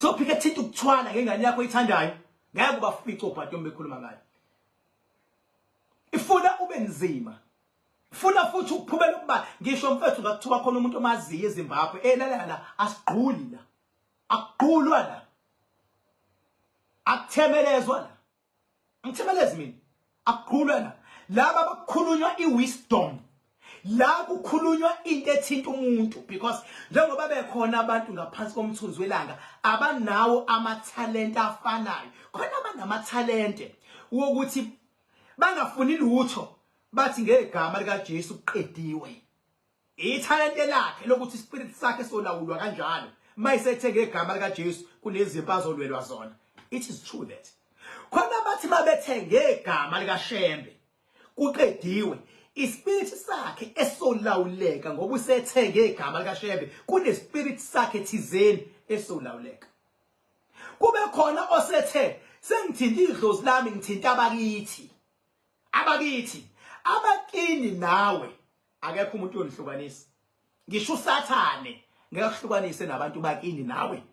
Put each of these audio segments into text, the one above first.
Sophika thinta ukuthwala ngengane yakho ithandayo ngeke ubafice obhati uma bekhuluma ngayo ifuna ube nzima funa futhi ukuphumela ukuba ngisho mfethu ngakuthiwa khona umuntu omaziyo eZimbabwe elalala asigquli la akugqulwa la akuthemelezwa la Ngithimelezi mina akukhulwe na laba bakukhulunywa iwisdom la kukhulunywa into ethinta umuntu because njengoba bekhona abantu ngaphansi komthunzi welanga abanawo amathalente afanayo khona abanamathalente wokuthi bangafuni lutho bathi ngegama likaJesu kuqediwe Ithalente lakhe lokuthi ispirit sakhe solawulwa kanjalo mayisethe ngegama lika Jesu kunezimpi azolwelwa zona. It is true that. Khona bathi mabethe ngegama lika Shembe kuqediwe ispirit sakhe esolawuleka ngoba usethe ngegama lika Shembe kunespirit sakhe thizeni esolawuleka. Kube khona osethe sengithinta idlozi lami ngithinta abakithi. Abakithi abakini nawe akekho umuntu uyonihlukanisa ngisho usathane ngeke kuhlukanise nabantu bakini nawe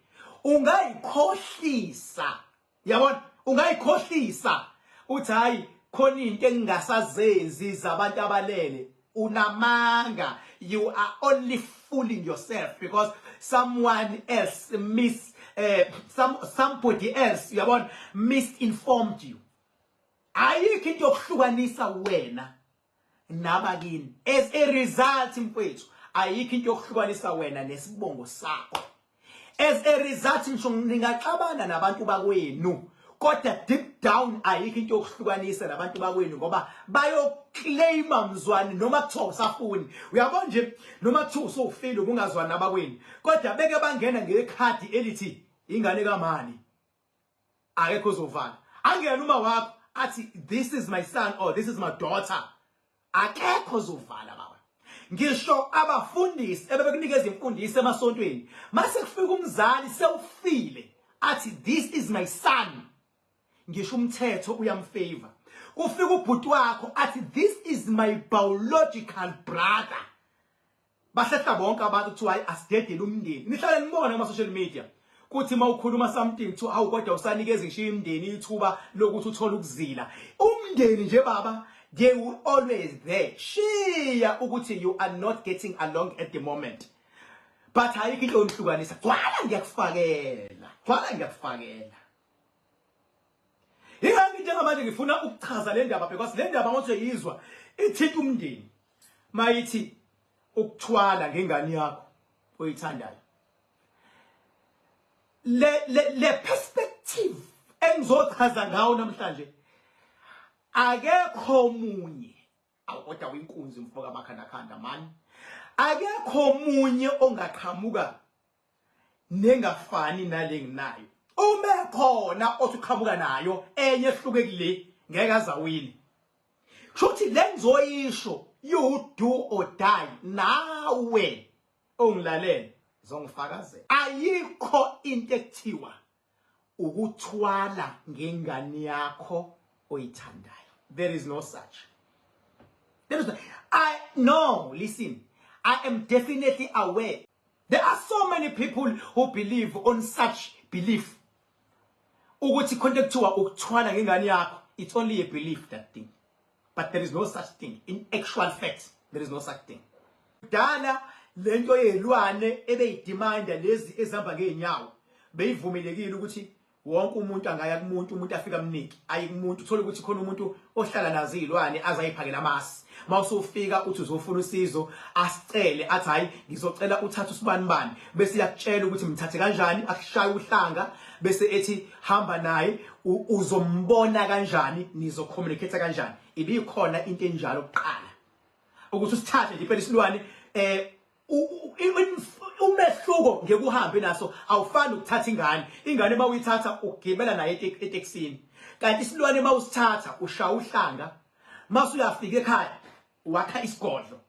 ungayikhohlisa yabona ungayikhohlisa uthi hayi khona into engingasazenzi zabantu abalele unamanga you are only fooling yourself because someone else miss uh, some somebody else yabona misinformed you ayikho into yokuhlukanisa wena nabakini as a result mfowethu ayikho into yokuhlukanisa wena nesibongo sakho as a result ngisho ningaxabana nabantu bakwenu kodwa deep down ayikho into yokuhlukanisa nabantu bakwenu ngoba bayoclaima mzwani noma kuthiwa usafuni uyabo nje noma kuthiwa usufile ubungazwani nabakwenu kodwa beke bangena ngekhadi elithi ingane kamani akekho ozovala angena uma wakho athi this is my son or this is my daughter akekho ozovala baba ngisho abafundisi ebebekunikeza imfundiso emasontweni mase kufika umzali sewufile athi this is my son ngisho umthetho uyamfavor kufika ubhuti wakho athi this is my biological brother Bahlehla bonke abantu kuthiwa hayi asidedele umndeni. Nihlale nibone kuma social media kuthi mawukhuluma something kuthiwa awu kodwa usanikeza ngishiya imndeni ithuba lokuthi uthole ukuzila. Umndeni nje baba they will always there. Shiya ukuthi you are not getting along at the moment. But ayikho into onihlukanisa. Gwala ngiyakufakela. Gwala ngiyakufakela. Ingani njengamanje ngifuna ukuchaza le ndaba because le ndaba ngothi uyizwa ithinta umndeni. mayithi ukuthwala ngengane yakho oyithandayo le le, le perspective engizochaza ngawo namhlanje akekho munye awukoda winkunzi mfoka makhanda khanda mani akekho munye ongaqhamuka nengafani nale nginayo uma khona othi uqhamuka nayo enye ehluke kule ngeke azawini kushuthi le ngizoyisho you do or die nawe ongilalele zongifakazela ayikho into ekuthiwa ukuthwala ngengane yakho oyithandayo there is no such there is no, i no listen i am definitely aware there are so many people who believe on such belief ukuthi khona kuthiwa ukuthwala ngengane yakho it's only a belief that thing but there is no such thing in actual fact there is no such thing kudala lento yelwane ebeyidimanda lezi ezihamba ngeenyawo beyivumelekile ukuthi wonke umuntu angaya kumuntu umuntu afika mniki ayi kumuntu uthola ukuthi khona umuntu ohlala nazo izilwane azayiphakela amasi mawusufika uthi uzofuna usizo asicele athi hayi ngizocela uthatha usibani bani bese yakutshela ukuthi mthathe kanjani akushaya uhlanga bese ethi hamba naye uzombona kanjani nizo communicate kanjani ibikhona into enjalo kuqala ukuthi usithathe nje impela isilwane eh umehluko ngekuhambe naso awufani ukuthatha ingane ingane uma uyithatha ugibela naye etekisini kanti isilwane uma usithatha ushaya uhlanga mase uyafika ekhaya wakha isigodlo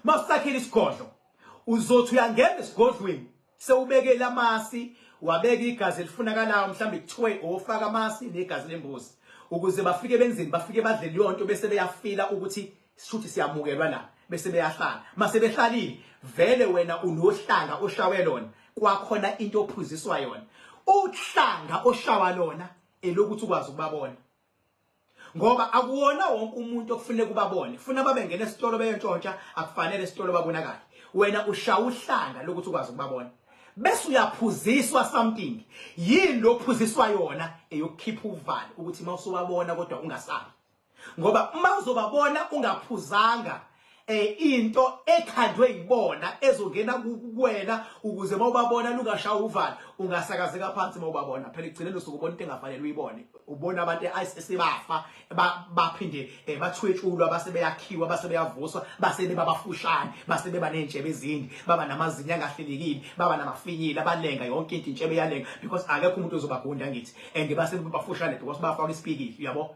Mawusakhile isigodlo uzothi uyangena esigodlweni sewubekele amasi wabeka igazi elifunakalayo mhlawumbe kuthiwe ofaka amasi negazi lembuzi ukuze bafike benzeni bafike badle leyo nto bese beyafila ukuthi sishuthi siyamukelwa la bese beyahlala mase behlalile vele wena unohlanga oshawe lona kwakhona into ophuziswa yona uhlanga oshawa lona elokuthi ukwazi ukubabona ngoba akuwona wonke umuntu okufanele kubabone funa babe ngena esitolo beyentshontsha akufanele esitolo babonakale wena ushawa uhlanga lokuthi ukwazi ukubabona bese uyaphuziswa something yini lophuziswa yona eyokukhipha uvalo ukuthi uma usuwabona kodwa ungasabi ngoba uma uzobabona ungaphuzanga eh into ekhandwe yibona ezongena kuwena ukuze mawubabona lungashawa uvalo ungasakazeka phansi mawubabona phela igcine losuku ubona into engafanele uyibone ubona abantu esebafa baphinde eh, bathwetshulwa basebeyakhiwa basebeyavuswa basebe babafushane basebe banentshebe ezindi baba namazinyo angahlelekile baba namafinyila balenga yonke into intshebe yalenga because akekho umuntu ozobagunda ngithi and base bafushane because bafaka isipikili uyabo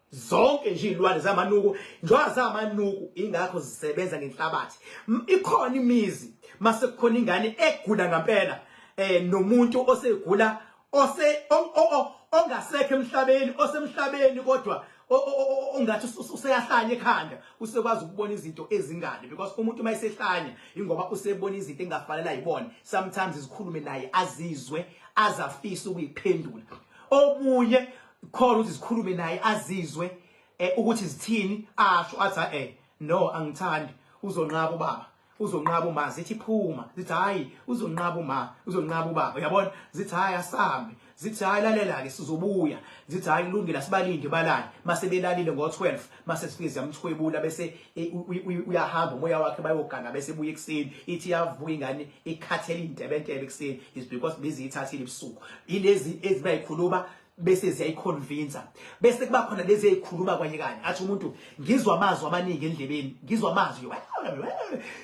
zonke nje izilwane zamanuku njengoba zamanuku ingakho zisebenza ngenhlabathi ikhona imizi mase kukhona ingane egula ngampela eh nomuntu osegula ose ongasekho emhlabeni osemhlabeni kodwa ongathi useyahlanya ekhanda usekwazi ukubona izinto ezingane because umuntu uma esehlanya ingoba usebona izinto engafanele ayibone sometimes izikhulume naye azizwe azafisa ukuyiphendula omunye khona ukuthi zikhulume naye azizwe eh, ukuthi zithini asho athi eh no angithandi uzonqaba ubaba uzonqaba uma zithi phuma zithi hayi uzonqaba uma uzonqaba ubaba uyabona zithi hayi asambe zithi hayi lalela ke sizobuya zithi hayi kulungile sibalinde balale mase belalile ngo12 mase sifike ziyamthwebula bese e, uyahamba umoya wakhe bayogana bese buye ekseni ithi yavuka ingane ikhathele intebentebe ekseni is because bizithathile ebusuku ilezi ezibayikhuluma bese ziyayiconvincer bese kuba khona lezi ezikhuluma kwanye kanye athi umuntu ngizwa amazwi amaningi endlebeni ngizwa amazwi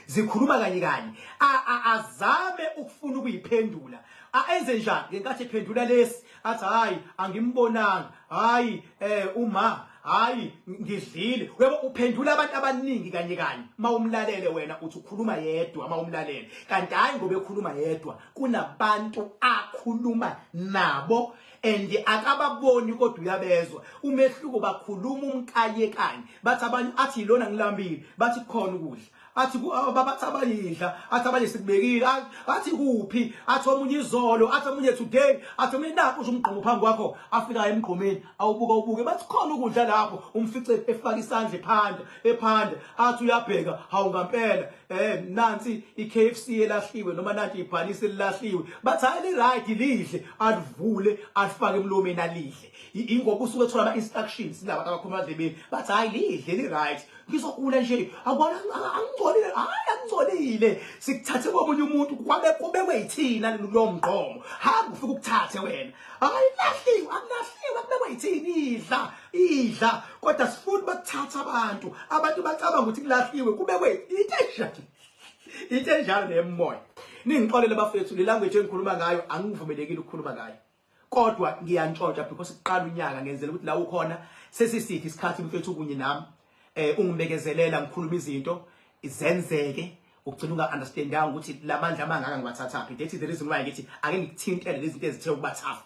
zikhuluma kanye kanye azame ukufuna ukuyiphendula ayenze njani ngenkathi ephendula lesi athi hayi angimbonanga hayi eh uma hayi ngidlile uyabo uphendula abantu abaningi kanye kanye mawumlalele wena uthi ukhuluma yedwa mawumlalele kanti hayi ngoba ekhuluma yedwa kunabantu akhuluma nabo and akababoni kodwa uyabezwa umehluko bakhuluma umkayekanye bathi abanye athi yilona ngilambile bathi khona ukudla athi babathi abayidla athi abanye sikubekile athi kuphi athi omunye izolo athi omunye today athi omunye nakho usho umgqomo phambi kwakho afika emgqomeni awubuka ubuke bathi khona ukudla lapho umfice efaka isandla ephanda ephanda athi uyabheka hawu ngampela eh nansi iKFC elahliwe noma nanti ibhalisi elahliwe bathi hayi li right lidle alivule alifake emlomeni alidle ingoba usuke ethola ama instructions laba abakhuluma adlebeni bathi hayi lidle li right ngizokula nje akubona angingcolile hayi angingcolile sikuthathe komunye umuntu kwabe kubekwe yithina lo mgqomo hamba ufike ukuthathe wena hayi lahliwe akulahliwe kubekwe yithini idla idla kodwa sifuna bakuthatha abantu abantu bacabanga ukuthi kulahliwe kube kwethu into enjalo into enjalo nemoya ningixolele bafethu le language engikhuluma ngayo angivumelekile ukukhuluma ngayo kodwa ngiyantshotsha because kuqala unyaka ngenzela ukuthi la ukhona sesisithi isikhathi mfethu kunye nami eh ungibekezelela ngikhuluma izinto izenzeke ugcina unga understandanga ukuthi lamandla amangaka ngiwathathaphi that is the reason why ngithi ake ngikuthintele lezi zinto ezithe ukubathafa